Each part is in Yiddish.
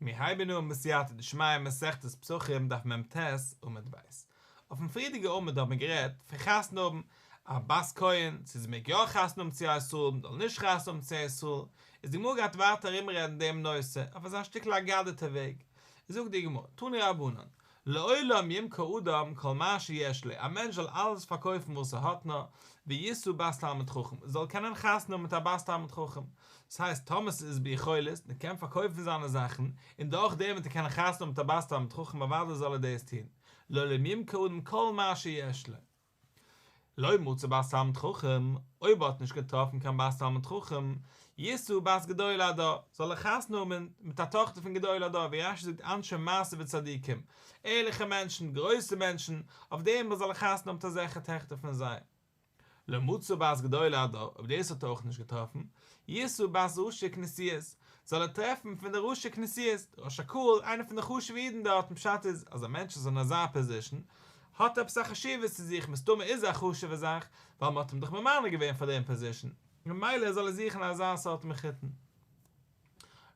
מיר הייבן אן בסייעתא דשמיא מסכת פסחים דף מ ט עמוד ב'. אויפן פריערדיגע עמוד האבן מיר גערעדט פון חתונה האבן א בת כהן, צו זי מעג יא חתונה האבן צו א ישראל און זאל נישט חתונה האבן צו א ישראל, איז די גמרא גייט ווייטער ארומרעדן דעם נושא אויף אזא שטיקל אגדתא וועג. זאגט די גמרא, תנו רבנן, לעולם ימכור אדם כל מה שיש לו, א מענטש זאל אלעס פארקויפן וואס ער האט נאר, וישא בת תלמיד חכם, ער זאל קענען חתונה האבן מיט א בת תלמיד חכם, דאס הייסט טאמער ס'איז ביכולת, ער קען פארקויפן זיינע זאכן, און דורך דעם וועט ער קענען חתונה האבן מיט א בת תלמיד חכם אוודאי זאל ער דאס טון, לעולם ימכור אדם כל מה שיש לו. לא מצא בית תלמיד חכם, אויב ער האט נישט געטראפן קיין בית תלמיד חכם, ישא בת גדול הדור, זאל ער חתונה האבן מיט א טאכטער פון גדול הדור, ווי רשי זאגט אנשי מעשה וצדיקים, ערליכע מענטשן, גרויסע מענטשן, אויף דעם וואס זאל ער חתונה האבן מיט אזעלכע טעכטער פון זיי. לא מצא בת גדול הדור, אויב דאס האט ער אויך נישט געטראפן, ישא בת ראשי כנסיות, זאל ער טרעפן פון די ראשי כנסיות, ראש הקהל, איינער פון די חשוב'ע אידן דארטן, פשט איז, אז א מענטש איז אין אזא פאזישן, האט עפעס א חשיבות צו זיך, מסתמא איז א חשוב'ע זאך, ווייל מ'האט אים דאך ממנה געווען פאר דעם פאזישן, ממילא זאל ער זוכן אזא סארט מחותן.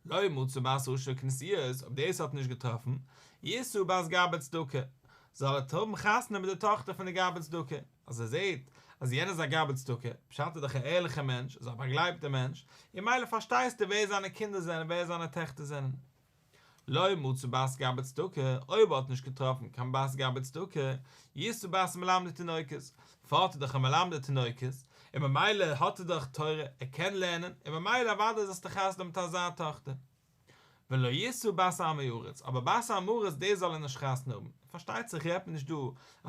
לא מצא בת עושר כנסיית, אויב דאס האט נישט געטראפן, ישא בת גאבד צדקה, זאל ער טרעפן חתונה מיט די טאכטער פון די גאבד צדקה, אז ער זעט אז יענער איז א גאבד צדקה, פשט איז דאך א ערליכער מענטש, איז א באגלייבטער מענטש, און מילא פארשטייסטו ווער זיינע קינדער זענען, ווער זיינע טעכטער זענען. לא מצא בית גבד צדקה, אויב האט נישט געטראפן קיין בית גבד צדקה, יסור בית מלמדי תינוקות, פארט איז דאך א מלמדי תינוקות, און ממילא האט ער דאך תורה, ער קען לערנען, און ממילא אוודאי זאלסטו חתונה האבן מיט אזא טאכטער. ולא יסור בית עם הארץ, אבער בית עם הארץ דאס זאל ער נישט חתונה האבן, פארשטייט זיך רעדט מען נישט דא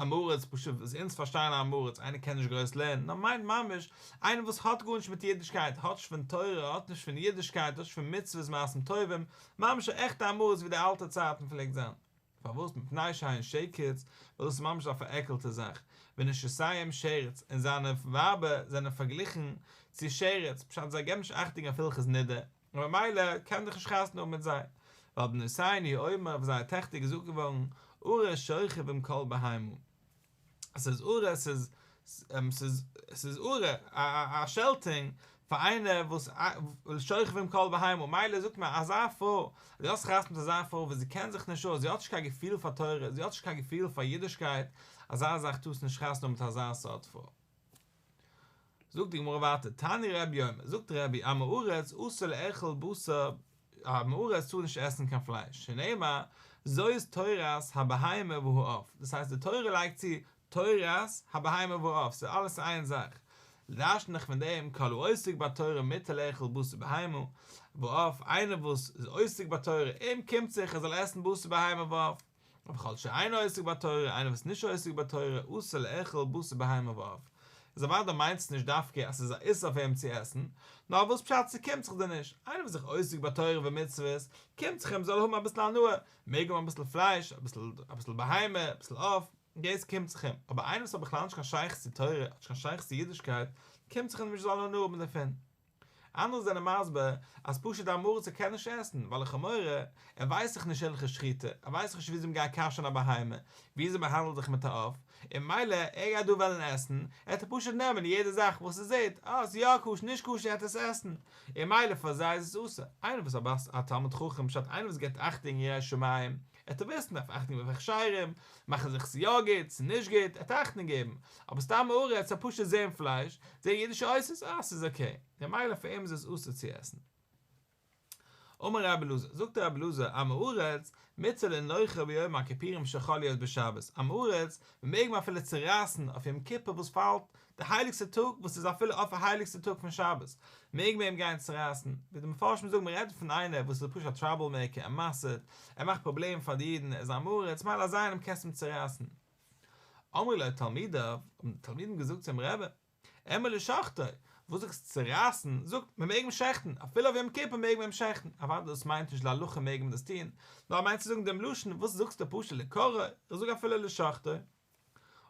אמעראץ פשוט וואס אונז פארשטייען אמעראץ איינער קען נישט גרויס לערנען נאר מיינט ממש איינער וואס האט גארנישט מיט אידישקייט האט נישט פון תורה האט נישט פון אידישקייט האט נישט פון מצוות מעשים טובים ממש א עכטע אמעראץ ווי די אלטע צייטן פלעגט זיין פארוואס מפני שהיין שקץ ווייל דאס איז ממש א פארעקלטע זאך ווי נשיסיהם שרץ און זיינע ווייבער זענען פארגליכן צו שרץ פשט זיי געבן נישט אכטונג אויף הלכות נידה. און במילא קען ער זיך נישט חתונה האבן מיט זיי, ווייל בנותיני האומר אויף זייער טעכטער איז געזאגט געווארן ארה שוכבים כל בהמה, עס איז ארה עס איז עס איז ארה א א שעלטונג פאר איינער וואס שוכבים כל בהמה, מילא זאגט מען אזא פרוי אז זי האט זיך חתונה מיט אזא פרוי וואס זי קען זיך נישט אויס, זי האט נישט קיין געפיל פאר תורה, זי האט נישט קיין געפיל פאר אידישקייט, אזא זאך טארסטו נישט חתונה האבן מיט אזא סארט פרוי. זאגט די גמרא ווייטער תני רבי אומר זאגט רבי עם הארץ אסור לאכול בשר עם הארץ טאר נישט עסן קיין פלייש שנאמר זאת תורת הבהמה והעוף דאס הייסט די תורה לייגט צו תורת הבהמה והעוף ס'איז אלעס איין זאך דרש'נט זיך פון דעם כל העוסק בתורה מותר לאכול בשר בהמה ועוף איינער וואס איז עוסק בתורה אים קומט זיך ער זאל עסן בשר בהמה ועוף אבער כל שאינו עוסק בתורה, איינער וואס איז נישט עוסק בתורה, אסור לאכול בשר בהמה ואוו. איז אוודאי מיינט עס נישט דווקא אז עס איז א איסור אויף אים צו עסן, נאר וואס פשט ס'קומט זיך דיר נישט? איינער וואס זיך עוסק בתורה ומצוות, קומט זיך אים זאל ער האבן אביסל הנאה, מעג האבן אביסל פלייש, אביסל בהמה, אביסל עוף, דאס קומט זיך אים, אבער איינער וואס האט בכלל נישט קיין שייכות צו תורה, האט נישט קיין שייכות צו אידישקייט, קומט זיך אים נישט זאל ער הנאה האבן דערפון. אנדערע זענען מסביר אז פשוט א מרצה קען נישט עסן ווייל לכאו' מורא, ער ווייסט דאך נישט הלכות שחיטה, ער ווייסט דאך נישט וויאזוי מען גייט כשר'ן א בהמה, ווי אזוי מען באהאנדלט זיך מיט א עוף, און מילא ער גייט דא וועלן עסן, העט ער פשוט נעמען יעדע זאך וואס ער זעהט אז ס'איז יא כשר נישט כשר העט ער עס עסן, און מילא פאר זיי איז עס אסור, איינער וואס א בר ס א תלמיד חכם פשט איינער וואס געבט אכטונג ירא שמים, ער האט אביסל דארף אכטונג געבן אויף הכשרים, מאכן זיך ס'איז יא גוט, ס'איז נישט גוט, ער האט אכטונג געבן, אבער סתם הארץ האט פשוט זעהן פלייש, זעהן אידישע עושות, אה ס'איז אקעי, ממילא פאר אים איז עס אסור צו עסן. אמר רבי אלעזר, זאגט רבי אלעזר, עם הארץ, מצל אין לויכער ביום הכיפורים שיכול להיות בשבת, עם הארץ, מ'מעג אים אפילו צורייסן אויף יום כיפור וואס פאלט די הייליגסטע טאג וואס איז אפילו אויף א הייליגסטע טאג פון שבת מעג מען אים גיין צורייסן, ווי די מפרשים זאגן מען רעדט פון איינער וואס איז פשוט א טראבל מעיקער ער מסר'ט, ער מאכט פראבלעמען פאר די אידן, ער איז א מרעץ, מילא אזא איינעם קענסטו אים צורייסן. אמרו לו תלמידיו, האבן די תלמידים געזאגט צום רבי, אמר לשחטו, וואס זאגסטו צורייסן, זאג, מען מעג אים שעכטן, אפילו אויף יום כיפור מעג מען אים שעכטן, אוודאי דאס מיינט נישט להלכה מעג מען דאס טון, נאר ער מיינט צו זאגן דעם לשון, וואס זאגסטו פשוט לקרע, איך זאג אפילו לשחטו.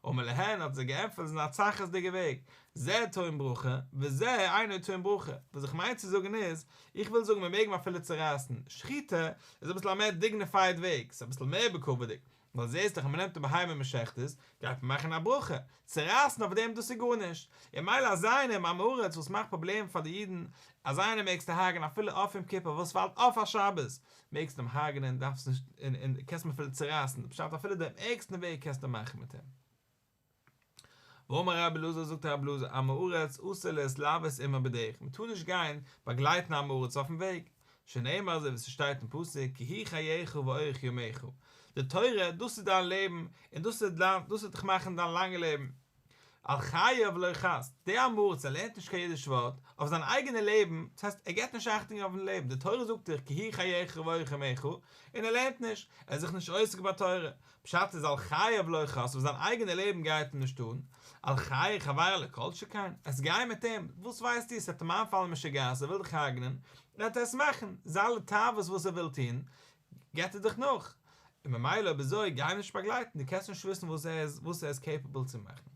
ומלהן האט זיי געענטפערט זיי זענען א צרכות'דיגע וועג, זה טוען ברכה וזה אינו טוען ברכה, וואס איך מיין צו זאגן איז, איך וויל זאגן מיר מעג מען אפילו צורייסן, שחיטה איז אביסל א מער דיגניפייד וועג, ס'איז אביסל מער בכבוד'יג, ווייל זעהסט דאך אז מ'נעמט א בהמה און מ'שחט עס, גייט מען מאכן א ברכה, צורייסן אויף דעם דאס איז גארנישט, און מילא אזא איינער עם הארץ וואס מאכט פראבלעמען פאר די אידן, אזא איינעם מעגסטו הרג'ען אפילו אויף יום כיפור וואס פאלט אויף א שבת, מעגסט אים הרג'נען, דארפסט נישט, און און קענסט אים אפילו צורייסן, די פשט אפילו דעם ערגסטן וועג קענסטו אים מאכן מיט אים. ואמר רבי אלעזר זאגט רבי אלעזר עם הארץ אסור להתלוות עמו בדרך מען טאר נישט גיין באגלייטן א עם הארץ אויפן וועג, שנאמר אזוי ווי ס'שטייט אין פסוק כי היא חייך ואורך ימיך, די תורה דאס איז דיין לעבן און דאס וועט דיין דאס וועט דיך מאכן דיין לאנגע לעבן. על חייו ולא חס, דער אמר צ לערנט נישט קיין אידיש ווארט, אויף זיין אייגענע לעבן, דאס הייסט ער געבט נישט אכטונג אויפן לעבן, די תורה זאגט דיך כי היא חייך והיא חמך, און ער לערנט נישט, ער איז זיך נישט עוסק בתורה, פשט איז על חייו ולא חס, אויף זיין אייגענע לעבן גייט ער נישט אן, על חיי חברו לא כל שכן, עסט גיי מיט אים, וואס ווייסטו עס וועט אים איינפאלן משוגעת ער וויל דיך הרג'נען, וועט ער עס מאכן, זיין לתאוות וואס ער וויל טון, געט ער דיך נאך, און ממילא אויב אזוי גיי אים נישט באגלייטן, דו קענסט נישט וויסן וואס ער איז וואס ער איז קעיפעבל צו מאכן.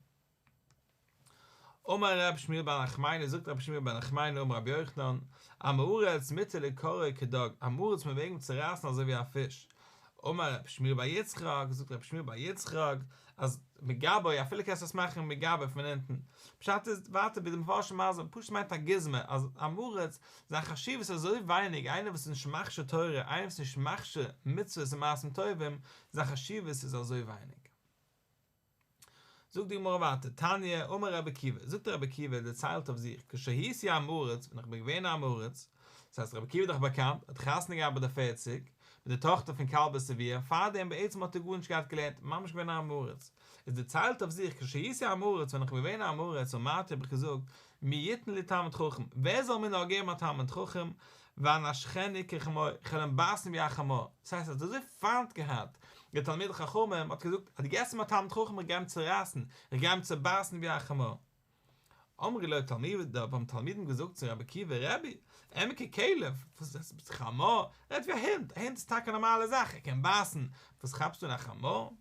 אמר ר' שמואל בן נחמני, זאגט רבי שמואל בן נחמני אמר רבי יוחנן, עם הארץ מיתה לקרע כדג, עם הארץ מוועגן אים צו רייסן אזוי ווי א פיש. אמר רבי שמואל בר יצחק, זאגט רבי שמואל בר יצחק, אז מגבאי, אפילו קענסט עס מאכן מגבאי פון אונטן, פשט איז ווייטער ווי די מפרשים מסביר, פשוט מיינט א גוזמא, אז עם הארץ זיין חשיבות איז אזוי ווייניג, איינער וואס איז נישט מכשיר תורה, איינער וואס איז נישט מכשיר מצוות און מעשים טובים, זיין חשיבות איז אזוי ווייניג. זאגט די גמרא ווייטער, תניא, אמר רבי עקיבא, זאגט רבי עקיבא, דערציילט אויף זיך, כשהיתי עם הארץ, ווען איך בין געווען עם הארץ, דאס הייסט רבי עקיבא איז דאך באקאנט, האט חתונה געהאט ביי די פֿערציק, מיט די טאכטער פון כלבא שביה, פארדעם בעצם האט ער גארנישט געהאט געלערנט, ממש געווען עם הארץ, איז דערציילט אויף זיך, כשהיתי עם הארץ, ווען איך בין געווען עם הארץ, אמרתי האב איך געזאגט, מי יתן לי תלמיד חכם, ווער זאל מיר נאר געבן א תלמיד חכם, ואנשכני כחמור, איך וועל אים בייסן ווי א חמור, דאס הייסט ער האט אזוי פיינט געהאט די תלמידי חכמים, האט ער געזאגט אז דו געבסט אים א תלמיד חכם איך גיי אים צורייסן, איך גיי אים צובייסן ווי א חמור. אמרי לו תלמידיו, האבן תלמידים געזאגט צו רבי עקיבא, רבי, עמי ככלב, וואס רעדסטו ביסט חמור, רעד ווי א הונט, א הונט איז טאקע א נארמאלע זאך, ער קען בייסן, וואס כאפסטו אין א חמור?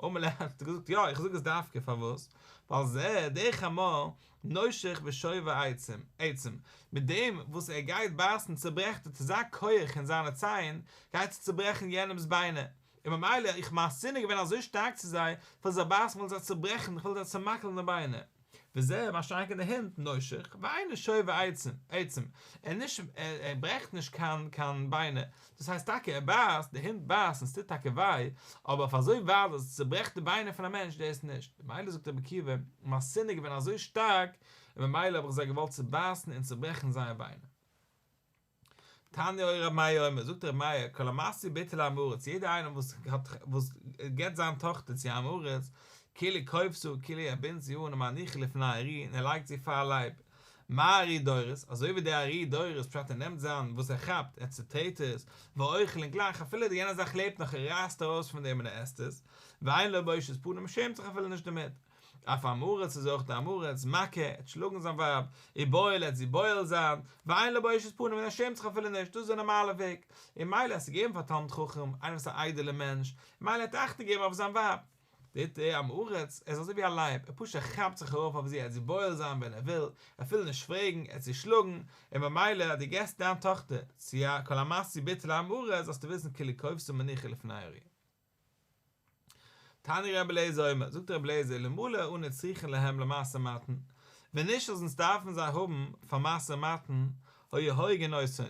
אמאל ער האט געזאגט יא איך זאג עס דווקא פארוואס ווייל זע דער חמור נושך בשובב העצים עצים מיט דעם וואס ער גייט בייסן צוברעכט ער צו זיין כח און זיינע ציין גייט ער צוברעכן יענעמס ביינער און ממילא איך מיין שנאה געווען אזוי שטארק צו זיי כ'וויל זיי בייסן כ'וויל זיי צוברעכן כ'וויל זיי צומאקלן די ביינער. וזע, מה שטארק אין די הענט, נושך, ואינו שובר עצם, עצם, ער נישט, ער ברעכט נישט קיין, קיין ביינער, דאס הייסט טאקע ער בייסט, די הונט בייסט און ס'טוט טאקע וויי, אבער אויף אזוי ווייט אז עס צוברעכט די ביינער פון א מענטש, דאס נישט. ממילא זאגט רבי עקיבא, מיין שנאה איז געווען אזוי שטארק, און ממילא האב איך זיי געוואלט צובייסן און צוברעכן זייער ביינער. תניא אוי ר' מאיר אומר, זאגט ר' מאיר, כל המעשיר ביתו לעם-הארץ, יעדער איינער וואס וואס געבט זיין טאכטער צו עם-הארץ, כאילו כופסו, כאילו ער בינדט זי אן ומניחה לפני הארי, און ער לייגט זי פאר לייב, מה הארי דורס, אזוי ווי דער הארי דורס, פשט ער נעמט זיין וואס ער כאפט, ער צוטרעט עס, ואוכל, און גלייך אפילו די יענע זאך לעבט נאך ער רייסט ארויס פון דעם און ער עסט עס, ואין לו בושת פנים ער שעמט זיך אפילו נישט דערמיט. אויף עם הארץ איז אויך די עם הארץ, מכה, ער האט שלאגן זיין ווייב, און בועל ער האט זי בועל זיין, ואין לו בושת פנים און ער שעמט זיך אפילו נישט, דאס איז די נארמאלע וועג, און מילא עס איז געגעבן פאר תלמיד חכם, איינער וואס איז א איידעלע מענטש, מילא ער האט אכטונג געגעבן אויף זיין ווייב. די ט ע עם הארץ, ער איז אזוי ווי א לייב, ער פשוט ער כאפט זיך ארויף אויף זי ער האט זי בועל זיין ווען ער וויל, אפילו נישט פרעגן, ער האט זי שלאגן, און במילא אז דו געסט דיין טאכטער צו א כולל המעשי ביטול עם הארץ זאלסטו וויסן כאילו קובסו מניחי לפני אריח. תני רבי אליעזר אומר, זאגט רבי אליעזר, אלמלא אנו צריכין להם למעשר מתן, ווען נישט אז אונז דארפן זיי האבן פאר מעשר מתן, היה הורגין אותנו,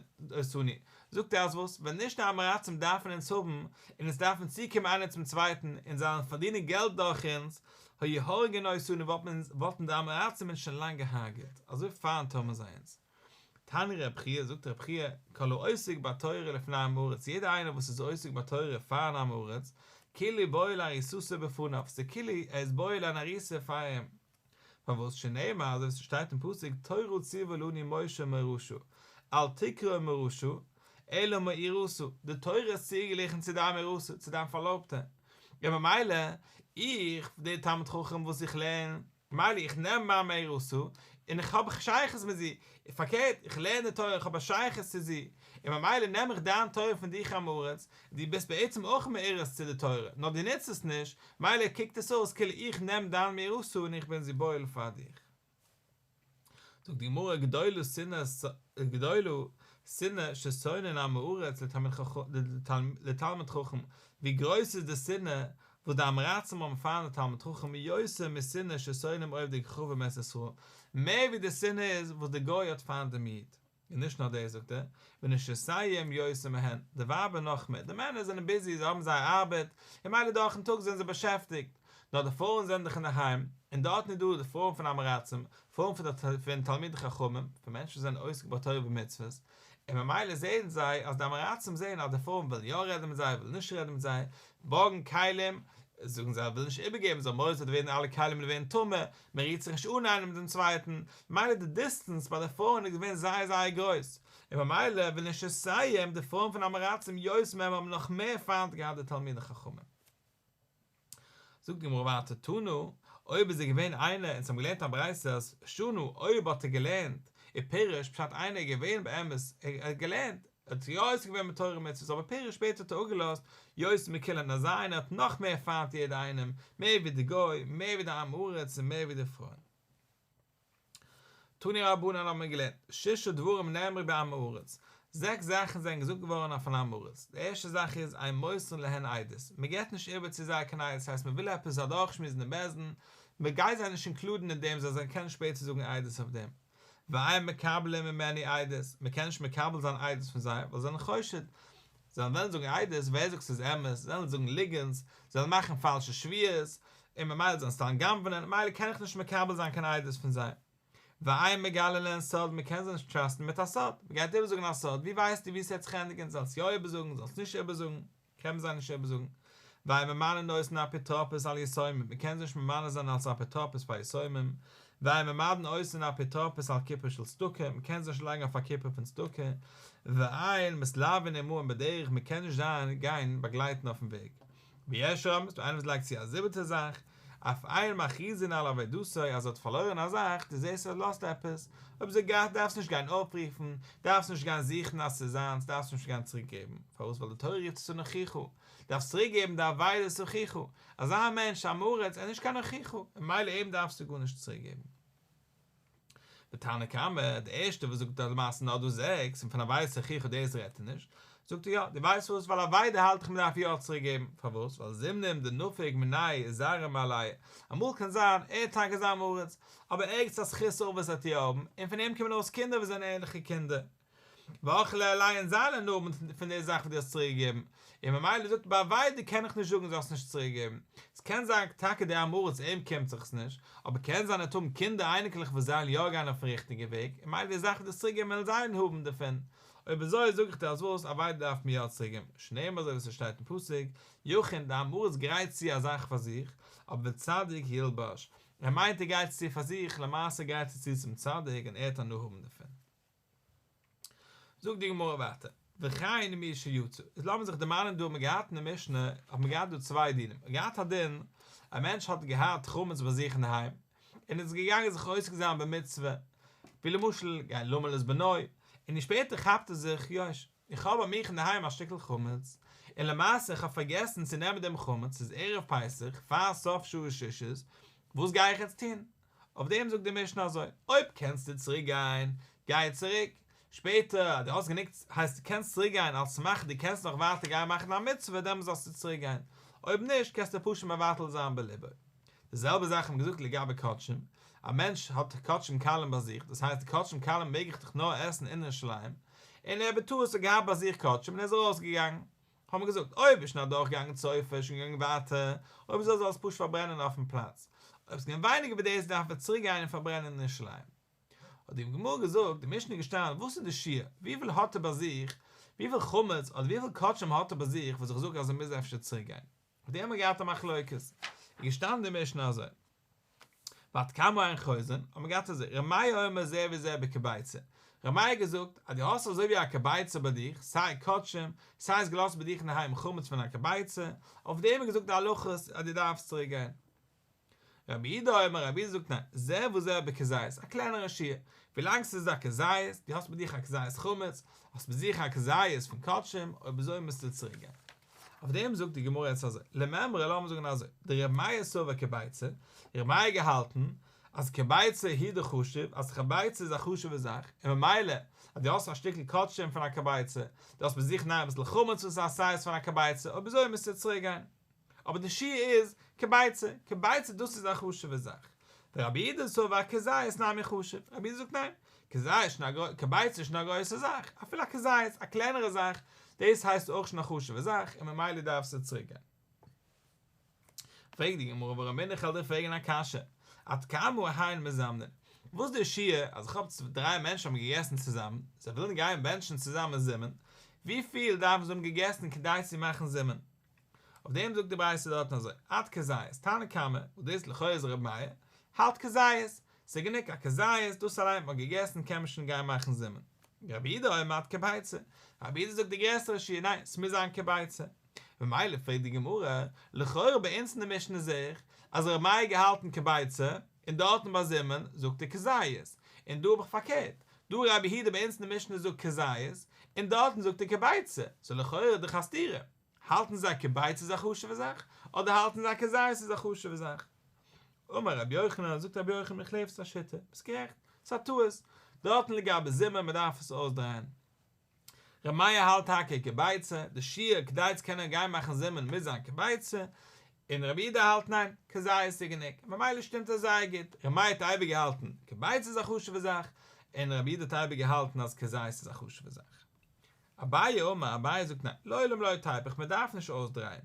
זאגט ער אז וואס, ווען נישט די אמעראצים דארפן אונז האבן, און אונז דארפן צוקומען איינער צום צווייטן, און זיי וועלן פארדינען געלט דורך אונז, היה הורגין אותנו וואלטן די אמעראצים אונז שוין לאנג געהארגעט, אזוי פיינט האבן זיי אונז. תני רבי חייא, זאגט רבי חייא, כל העוסק בתורה לפני עם הארץ, יעדער איינער וואס איז עוסק בתורה פארן עם הארץ, כאילו בועל הריסתו בפניו, ס'איז כאילו ער איז בועל אן הריסה פאר אים. פארוואס? שנאמר, אזוי ווי ס'שטייט אין פסוק, תורה ציוה לנו משה מראשו, אל תקרא מראשו, אלא מאירסו, די תורה איז צוגעגליכן צו דיין מאירסה, צו דיין פארלויבטע, און ממילא, איך, דער תלמיד חכם וואס איך לערן, ממילא איך נעם מיין מהרא ס און איך האב א שייכות מיט זי, און פארקערט איך לערן די תורה איך האב א שייכות צו זי, און ממילא נעם איך דיין תורה פון דיך עם הארץ, דו ביסט בעצם אויך מהרא ס צו די תורה, נאר דו נוצט עס נישט, מילא קוקט עס אויס כאילו איך נעם דיין מהרא ס און איך בין זי בועל פאר דיך. זאגט די גמרא גדולה שנאה גדולה שנאה ששונאין עם הארץ לתלמיד חכם, ווי גרויס איז די שנאה וואס די אמרצים האבן פארן א תלמיד חכם איז יויסער משנאה ששונאים אוהב די כוכבים ארץ ישראל, מער ווי די שנאה איז וואס די גוי האט פארן דעם איד. און נישט נאר דאס זאגט ער, ונשיותיהם יוצא מהן, די ווייבער נאך מער, די מענער זענען ביזי, זיי האבן זייער ארבעט, און מילא דורכ'ן טאג זענען זיי באשעפטיגט, נאר די פרויען זענען דאך אינדערהיים, און דארטן איז דא די פרויען פון אמעראצים, פרויען פון תלמידי חכמים, פון מענטשן וואס זענען עוסק בתורה ומצוות, און ממילא זעען זיי אז די אמעראצים זעען אז די פרויען ווילן יא רעדן מיט זיי, ווילן נישט רעדן מיט זיי, בארגן כלים, זאגן זיי ווילן נישט איבערגעבן, זיי האבן מורא ס'וועט ווערן אלע כלים ווערן טמא, מען רירט זיך נישט אן איינעם מיט דעם צווייטן, ממילא די דיסטענס ביי די פרויען איז געווען זייער זייער גרויס, און ממילא וויל נישט לסיים די פרויען פון אמעראצים יוז מ' האבן נאך מער פיינט געהאט די תלמידי חכמים. זאגט די גמרא ווייטער תנו, אויב איז ער געווען איינער און זיי האבן געלערנט א ברייתא אז שנו אויב האט ער געלערנט, און פירש פשט איינער איז געווען באמת ער האט געלערנט, ער האט יא עוסק געווען מיט תורה ומצוות אבער פירש שפעטער האט ער אפגעלאזט יוצא מקהלה נאר זיינע האט נאך מער פיינט יעדע איינעם מער ווי די גוי מער ווי די עם הארץ און מער ווי די פרויען תני רבנן האט מען געלערנט שישה דברים נאמרו בעם הארץ זעקס זאכן זענען געזאגט געווארן אויפן עם הארץ די ערשטע זאך איז אין מוסרן להן עדות מען געבט נישט איבער צו זיי קיין עדות הייסט מען וויל עפעס אדורכשמועסן אין בית דין מען גייט זיי נישט אינקלודן אין דעם זיי זאלן קענען שפעטער זאגן עדות אויף דעם ואין מקבלין ממני עדות, מ'קען נישט מקבל זיין עדות פון זיי, ווייל זיי זענען חושד, זיי וועלן זאגן עדות, ווער זאגט ס'איז אמת, זיי וועלן זאגן ליגענטס, זיי וועלן מאכן פאלשע שוויות, און ממילא זיי וועלן סתם גנב'נען, ממילא קען איך נישט מקבל זיין קיין עדות פון זיי. ואין מגלה להן סוד, מ'קען זיי נישט טראסטן מיט א סוד, מ'גייט איבערזאגן א סוד, ווי ווייסטו ווי ס'וועט זיך ענדיגן, זאלסט יא איבערזאגן, זאלסט נישט איבערזאגן. קען מען זיי נישט איבערזאגן. ווייל ממנה נושאין אפיטרופוס על יתומים, מען קען זיי נישט ממנה זיין אלס אפיטרופוס פאר יתומים, ווייל ממנה נושאין אפיטרופוס על כיפור של צדקה, מען קען זיי נישט לייגן אויף א כיפור פון צדקה, ווייל מתלווין עמהם בדרך מען קען נישט זיין גיין באגלייטן אויפן וועג, ויש רמז, דא איינער וואס לייגט צו א זיבעטע זאך, אויף אייער מכריזין על אבידותו אז זי האט פארלוירן א זאך, דו זעסט אז זי לאזט עפעס, אויב זי האט געהאט דארפסט נישט גיין אפרופן, דארפסט נישט גיין זוכן אז ס'איז זיינס, דארפסט נישט גיין צוריק געבן, פארוואס ווייל די תורה רופט עס אן הוכיחו, דארפסט צוריק געבן די אבידה איז הוכיחו, אזא מענטש א מרץ ער איז נישט קיין הוכיחו, ממילא אים דארפסטו גארנישט צוריק געבן. די תנא קמא, די ערשטע וואס זאגט אז למעשה נאר דא זעקס, און פון א ווייסע חיכוך דאס רעדט ער נישט, זאגט ער יא, די ווייסט וואס, ווייל אבידה האלט איך מען דארף יא צוריק געבן, פארוואס, ווייל זימנים דנפיק מיני זרע מעליה, אמאל קען זיין ער האט טאקע זיין מרות, אבער ערגעץ א זכות אבות וועט ער האבן, און פון אים קומען ארויס קינדער וואס זענען ערליכע קינדער. ואכלה עלי' אין זיינע נאמען פון די זאך וואס דו האסט צוריק געגעבן, און ממילא זאגט ער ביי אבידה קען איך נישט זאגן זאלסט נישט צוריק געבן, ס'קען זיין טאקע דער עם הארץ אים קומט זיך נישט, אבער קען זיין ער האט האבן קינדער אייניקלעך וואס זיי וועלן יא גיין אויפן ריכטיגע וועג, און ממילא די זאך וואס דו האסט צוריק געגעבן וועלן זיי האבן דערפון, אויב אזוי זאג איך דיר אז וואס, אבידה דארף מיר יא צוריק געבן, שניים אזוי ווי ס'שטייט אין פסוק, יכין, דער עם הארץ גרייט צו א זאך פאר זיך, אבער דער צדיק ילבש, ער מיינט ער גרייט עס צו פאר זיך, למעשה גרייט ער עס צו צום צדיק און ער וועט הנאה האבן דערפון. זאגט די גמרא ווייטער, וכי אין מי שיצא, איז לאמיר זיך דערמאנען דא האט מען געהאט אין די משנה האט מען געהאט דא צוויי דינים, מען האט געהאט א דין, א מענטש האט געהאט חמץ ביי זיך אינדערהיים, און איז געגאנגען זיך עוסק זיין במצוה, ווי למשל גיין למל את בנו, און דער שפעטער כאפט ער זיך, יוש, איך האב ביי מיך אינדערהיים א שטיקל חמץ, און למעשה איך האב פארגעסן צו נעמען דעם חמץ, ס'איז ערב פסח, פאר סוף שעה ששת, וואס גיי איך יעצט טון? אויף דעם זאגט די משנה אזוי, אויב קענסטו צוריק גיין, גיי צוריק, שפעטער אז דו האסט גענוג הייסט דו קענסט צוריק גיין על סמך דו קענסט נאך ווייטער גיין מאכן א מצוה דעמאלס זאלסטו צוריק גיין, אויב נישט קענסטו פשוט מבטל זיין בליבו. די זעלבע זאך האט מען געזאגט לגבי קדשים, א מענטש האט קדשים קלים ביי זיך, דאס הייסט די קדשים קלים מעג איך דאך נאר עסן אינען שליים, און ער בטעות האט געהאט ביי זיך קדשים און ער איז ארויס געגאנגען, האט מען געזאגט אויב איז שוין אדורכגעגאנגען צויפע איז שוין געגאנגען ווייטער, אויב נישט זאל זיך עס פשוט פארברענען אויפן פלאץ, אויב ס'געווען ווייניגער ווי דאס דארף מען צוריק גיין און פארברענען אין ירושלים. האט די גמרא געזאגט, די משנה איז געשטאנען וואס איז די שיעור, וויפיל האט ער ביי זיך, וויפיל חמץ אדער וויפיל קאטשען האט ער ביי זיך וואס איך זאג אז ער מוז אפשר צוריק גיין. אויף דעם האט מען געהאט א מחלוקת, איז געשטאנען די משנה אזוי, ועד כמה אין חוזן, האט מען געהאט אזוי, רמיה אומר זה וזה בקבייצא, רמיה האט געזאגט אז דו האסט אזוי ווי א קבייצא ביי דיך, סיי קדשים, סיי איז געלאזט ביי דיך אינדערהיים חמץ פון א קבייצא, אויף דעם איז געזאגט די הלכות אז דו דארפסט צוריק גיין. רבי איד א אמר רבי איד זאגט ניין זה וזה בכזית א קלענערע שיעור ווילאנג ס'איז א כזית די האסט מיט דיך א כזית חמץ האסט מיט זיך א כזית פון קדשים אויב אזוי מוזטו צוריק גיין אויף דעם זאגט די גמרא יעצט אזוי לממרא לאמיר זאגן אזוי דער רבי מאיר סובר כביצה דער רבי מאיר געהאלטן אז כביצה היא די חשוב אז כביצה איז א חשובע זאך און ממילא אז די האסט א שטיקל קדשים פון א כביצה די האסט מיט זיך ניין אביסל חמץ וואס איז א סייז פון א כביצה אויב אזוי מוזטו צוריק גיין. אבער די שיעור איז כביצה, כביצה דאס איז א חשובע זאך, ורבי אידא סובר כזית נמי חשוב, רבי אידא זאגט ניין, כזית שוין א גרויסע, כביצה איז שוין א גרויסע זאך, אפילו א כזית, א קלענערע זאך, דאס הייסט אויך שוין א חשובע זאך, און ממילא דארפסטו צוריק גיין. פרעגט די גמרא ווארום בין איך על דיר פרעגען א קשיא, עד כמה היינו מזמנין, וואס איז די שיעור אז איך האב דריי מענטשן האבן געגעסן צוזאמען, זיי ווילן גיין בענטשן צוזאמען זימן, וויפיל דארפן זיי האבן געגעסן כדי צו מאכן זימן? אויף דעם זאגט די ברייתא דארטן אזוי, עד כזית, תנא קמא, וואס דאס איז לכאורה איז ר' מאיר, האלט כזית, ס'איז גענוג א כזית, דאס אליין האט מען געגעסן, קען מען שוין גיין מאכן זימן. רבי איד אומר מעט כביצה, רבי איד זאגט די גרעסערע שיעור, ניין, ס'מוז זיין כביצה. ממילא פרעגט די גמרא, לכאורה ביי אונז אין די משנה זעה איך אז ר' מאיר האט געהאלטן כביצה, און דארטן ביי זימען זאגט ער כזית, און דא האב איך פארקערט, דא רבי יהודה ביי אונז אין די משנה זאגט כזית, און דארטן זאגט ער כביצה, סאו לכאורה איז דאך א סתירה, האלטן זיי כביצה איז א חשוב'ע זאך, אדער האלטן זיי כזית איז א חשוב'ע זאך? אמר רבי יוחנן, זאגט רבי יוחנן איך לעב ס'איז א שיטה, ביסט גערעכט, ס'איז א טעות, דארטן לגבי זימען מ'דארף עס אויסדרייען. ר' מאיר האלט טאקע קבייצע, די שיעור כדי צו קענען גיין מאכן זימען מוז זיין קבייצע, און ר' אידא האלט ניין, כזעה איז צו גענוג, און ממילא שטימט עס זייער גוט, ר' מאיר האט אייביג געהאלטן קבייצע איז א חשובע זאך, און ר' אידא האט אייביג געהאלטן אז כזעה איז א חשובע זאך. אביי אומר, אביי זאגט ניין, לעולם לא טייפ איך, מען דארף נישט אויסדרייען,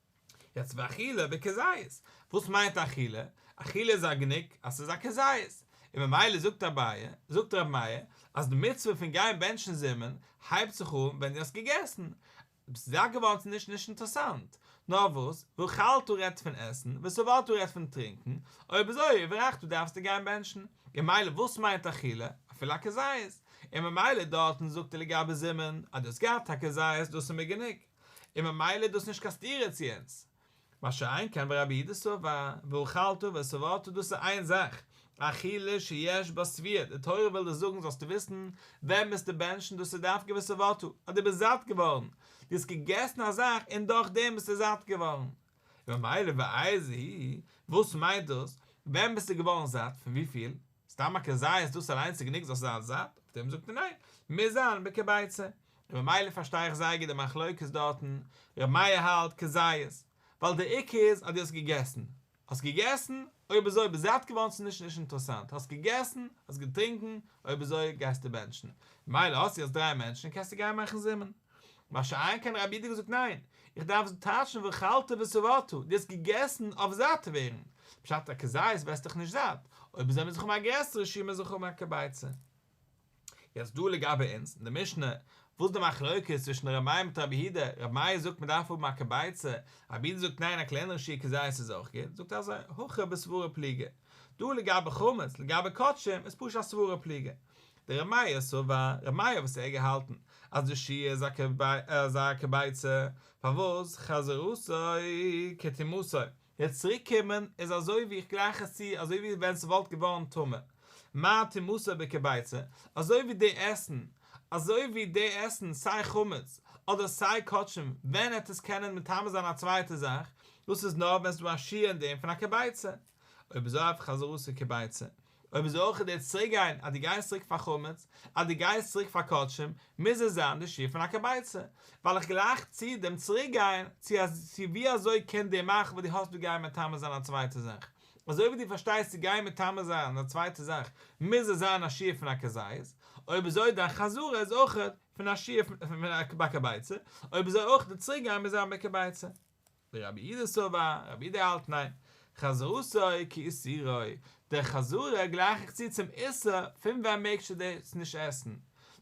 יעצט ביי אכילה בכזית, וואס מיינט אכילה? אכילה איז א געניק אז ס'איז א כזית, און ממילא זאגט אביי, זאגט רבי מאיר, אז די מצוה פון גיין בענטשן זימען הייבט זיך אן ווען דו האסט געגעסן. ביסט זאט געווארן ס'איז נישט נישט אינטערעסאנט. נאר וואס, ואכלת רעדט פון עסן, ושבעת רעדט פון טרינקן, אויב אזוי וברכת דארפסטו גיין בענטשן. און מילא וואס מיינט אכילה? אפילו א כזית. און ממילא דארטן זאגט ער לגבי זימען, אז דו האסט געהאט א כזית, דאס איז מיר געניק. און ממילא איז דאס נישט קיין סתירה צו אונז. מה שאין כן ורבי איד סבר, ואוכלתו ושבעתו דאס איז איין זאך, אכילה שיש בה סביעה, די תורה וויל דיר זאגן זאלסטו וויסן ווען ביסטו בענטשן דאס איז דווקא ושבעתו, אז דו ביסט זאט געווארן, דו האסט געגעסן א זאך און דורך דעם ביסטו זאט געווארן. און ממילא ואיזה היא, וואס מיינט דאס ווען ביסטו געווארן זאט, פון וויפיל? סתם א כזית איז דאס אליינס גענוג זאלסטו זיין זאט? אויף דעם זאגט ער ניין, מוז זיין בעקע ביצה. און ממילא פארשטיי איך זייער גוט די מחלוקת דארטן, ר' מאיר האלט כזית, ווייל דער עיקר איז אז דו האסט געגעסן. האסט געגעסן, אויב איז אזוי ביסט זאט געווארן צו נישט נישט אינטערעסאנט, האסט געגעסן, האסט געטרינקן, אויב איז אזוי גייסטו בענטשן. ממילא האסטו יעצט דריי מענטשן און קענסטו גיין מאכן זימען. מה שאין כן רבי איד האט געזאגט ניין, איך דארף עס טאטשן ואכלת ושבעת, די האסט געגעסן אויף זאט ווערן, בשעת א כזית ווערסטעך נישט זאט, אויב איז עמיצן חו מ א גרעסערע שיעור מאיז ער חו מ א כביצה. יעצט דא לגבי אונז, אין די משנה, וואס די מחלוקת איז צווישן ר' מאיר מיט רבי איד, רבי מאיר זאגט מען דארף האבן א כביצה, רבי איד זאגט ניין א קלענערע שיעור כזית איז אויך גוט, זאגט ער אזוי, הכא בסברא פליגא. דא לגבי חמץ, לגבי קדשים, איז פשוט א סברא פליגא. דער רמיה סבר, רמיה וואס ער געהאלטן אז די שי' איז א איז א כביצה, פארוואס חזר עשה כתימותו, יעצט צוריק קומען איז אזוי ווי איך גלייך עס צו אזוי ווי ווען ס'וואלט געווארן טמא, מה תימותו בכביצה, אזוי ווי די עסן אזוי ווי די עסן סיי חמץ אדער סיי קאטשן ווען העט עס קענען מטמא זיין א צווייטע זאך, דאס איז נאר ווען ס'איז דא א שי' אין דעם פון א כביצה, אויב אזוי אויף חזר עשה כביצה, אויב איז אויך דער צוריקגיין אז דו גייסט צוריק פאר חמץ, אז דו גייסט צוריק פאר קדשים, מוז עס זיין די שיעור פון א קבייצע, ווייל איך גלייך צו דעם צוריקגיין, צו ווי אזוי קען די מח' וואס דו האסט דא גיין מטמא זיין א צווייטע זאך, אזוי ווי דו פארשטייסט צו גיין מטמא זיין א צווייטע זאך מוז עס זיין א שיעור פון א כזית, אויב איז אויך דיין חזרה איז אויך פון א שיעור פון א ביי קבייצע, אויב איז אויך די צוריקגיין מוז זיין ביי קבייצע. די רבי אידא סובר, רבי אידא האלט ניין, חזרתו כאיסורו, דער חזרה גלייך איך צו צום איסור פון ווען מעגסטו דאס נישט עסן,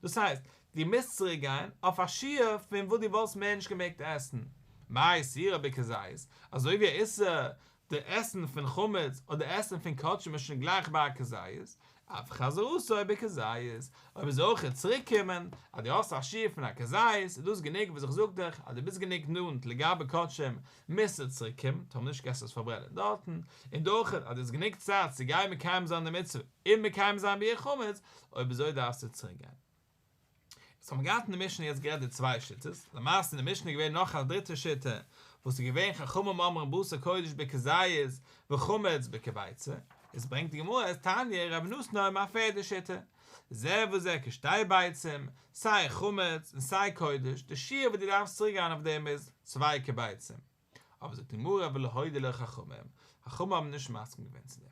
דאס הייסט, דו מוזט צוריק גיין אויף א שיעור פון וואס דו וואלסט מער נישט געמעגט עסן, מה איסורו בכזית, אזוי ווי א איסור די עסן פון חמץ אדער עסן פון קאטשען איז שוין גלייך ביי א כזית, אף חזרו סוי בכזית, אויב איז אויכעט צוריק קומען אז די האסט א שיעור פון א כזית איז דאס גענוג וואס איך זאג דיך אז די ביסט גענוג נאנט לגבי קאטשען מוזטו צוריק קומען טאמער נישט קענסטו עס פארברענען דארטן און די אויכעט אז די האסט גענוג צייט צו גיין מקיים זיין די מצוה און מקיים זיין ביעור חמץ אויב אזוי דארפסטו צוריק גיין. יעצט האט מען געהאט אין די משנה יעצט גערעדט די צוויי שיטות, למעשה אין די משנה איז געווען נאך א דריטע שיטה וואס איז געווען חכמים אומרים בשר קודש בכזית וחמץ בכביצה, יעצט ברענגט די גמרא אז תניא רבי נתנא האבן א פערדע שיטה, זה וזה כשתי ביצים, סיי חמץ און סיי קודש, די שיעור וואס דו דארפסט צוריק גיין אויף דעם איז צוויי כביצים, אבער זאגט די גמרא ולא הודיעו לו חכמים, חכמים האבן נישט מסכים געווען צו דעם.